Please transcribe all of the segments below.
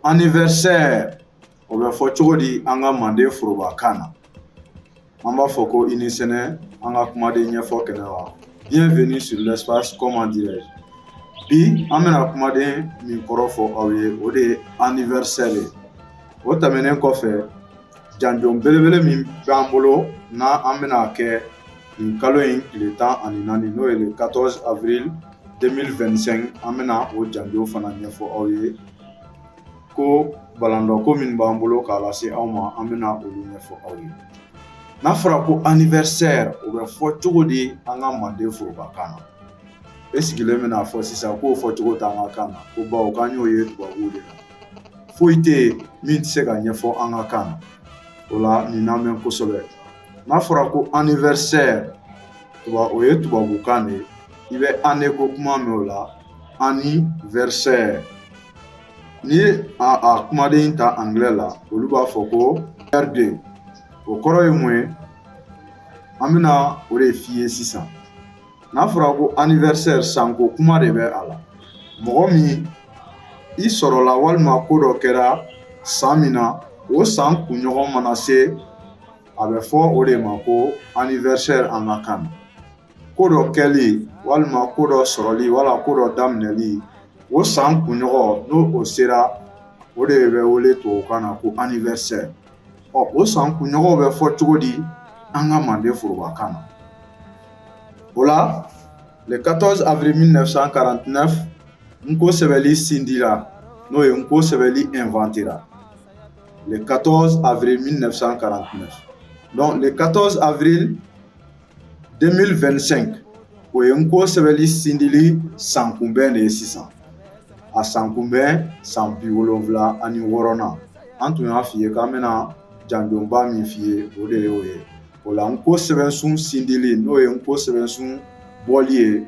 anniversaire o bɛ fɔ cogo di an ka manden foroba kan na an b'a fɔ ko i ni sɛnɛ an ka kumaden ɲɛfɔ kɛnɛ kan bienvenue sur l'espace comment dirais-je bi an bɛna kumaden min kɔrɔ fɔ aw ye o de ye anniversaire ye o tɛmɛnen kɔfɛ Janjon belebele min b'an bolo n'an bɛna kɛ nin kalo in tile tan ani naani n'o ye le 14 avril 2025 an bɛna o janjon fana ɲɛfɔ aw ye ko balandɔ ko min b'an bolo k'a lase aw ma an bɛna olu ɲɛfɔ aw ye n'a fɔra ko anniversaire o bɛ fɔ cogo di an ka manden foroba kan na e sigilen bɛn'a fɔ sisan k'o fɔ cogo t'an ka kan na ko bawo k'an y'o ye tubabu de la foyi tɛ yen min tɛ se ka ɲɛfɔ an ka kan na o la nin namɛn kosɛbɛ n'a fɔra ko anniversaire tuba o ye tubabukan de ye i bɛ année ko kuma mɛn o la anniversaire n'i ye a a kumaden ta angilɛ la olu b'a fɔ ko birthday o kɔrɔ ye mun ye an bɛna o de f'i ye sisan n'a fɔra ko anniversaire san ko kuma de bɛ a la mɔgɔ min i sɔrɔla walima ko dɔ kɛra san min na o san kunɲɔgɔn mana se a bɛ fɔ o de ma ko anniversaire an ka kan na ko dɔ kɛli walima ko dɔ sɔrɔli wala ko dɔ daminɛli o san kunɲɔgɔn n'o o sera o de bɛ wele tubabukan na ko anniversaire ɔ o san kunɲɔgɔnw bɛ fɔ cogo di an ka manden forobakan na o la le 14 avril 1949 N'ko sɛbɛli sindira n'o ye N'ko sɛbɛli inventera le 14 avril 1949 donc le 14 avril 2025 o ye N'ko sɛbɛli sindili san kunbɛn de ye sisan a san kunbɛn san bi wolonwula ani wɔɔrɔnan an tun y'a f'i ye k'an bɛna janjonba min f'i ye o de ye o ye o la N'ko sɛbɛsun sindili n'o ye N'ko sɛbɛsun bɔli ye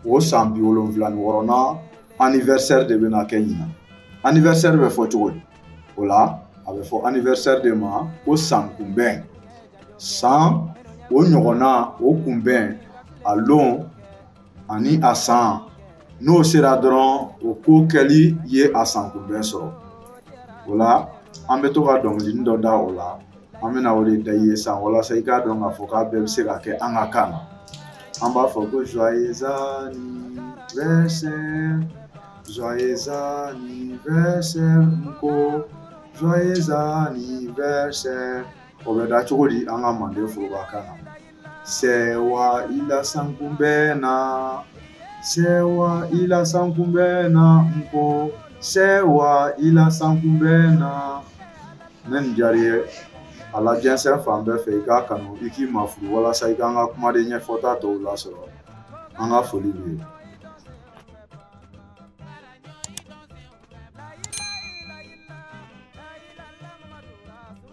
o san bi wolonwula ni wɔɔrɔnan anniversaire de bɛna kɛ ɲinan anniversaire bɛ fɔ cogo di o la a bɛ fɔ anniversaire de ma ko san kunbɛn san o ɲɔgɔn na o kunbɛn a don ani a san n'o sera dɔrɔn o ko kɛli ye a san kunbɛn sɔrɔ o la an bɛ to ka dɔnkilinin dɔ da o la an bɛna o de da i ye sisan walasa i k'a dɔn k'a fɔ k'a bɛɛ bɛ se ka kɛ an ka kan na an b'a fɔ ko joyeux anniversaire joyeux anniversaire ko joyeux anniversaire o bɛ da cogo di an ka manden foroba kan na sɛ wa i lasakun bɛ na sɛ i lasakun bɛ na n ko sɛ i lasakun bɛ na ni nin diyara i ye a lajɛnsɛn fan bɛɛ fɛ i k'a kanu i k'i mafuru walasa i ka an ka kumaden ɲɛfɔta tɔw lasɔrɔ an ka foli b'i ye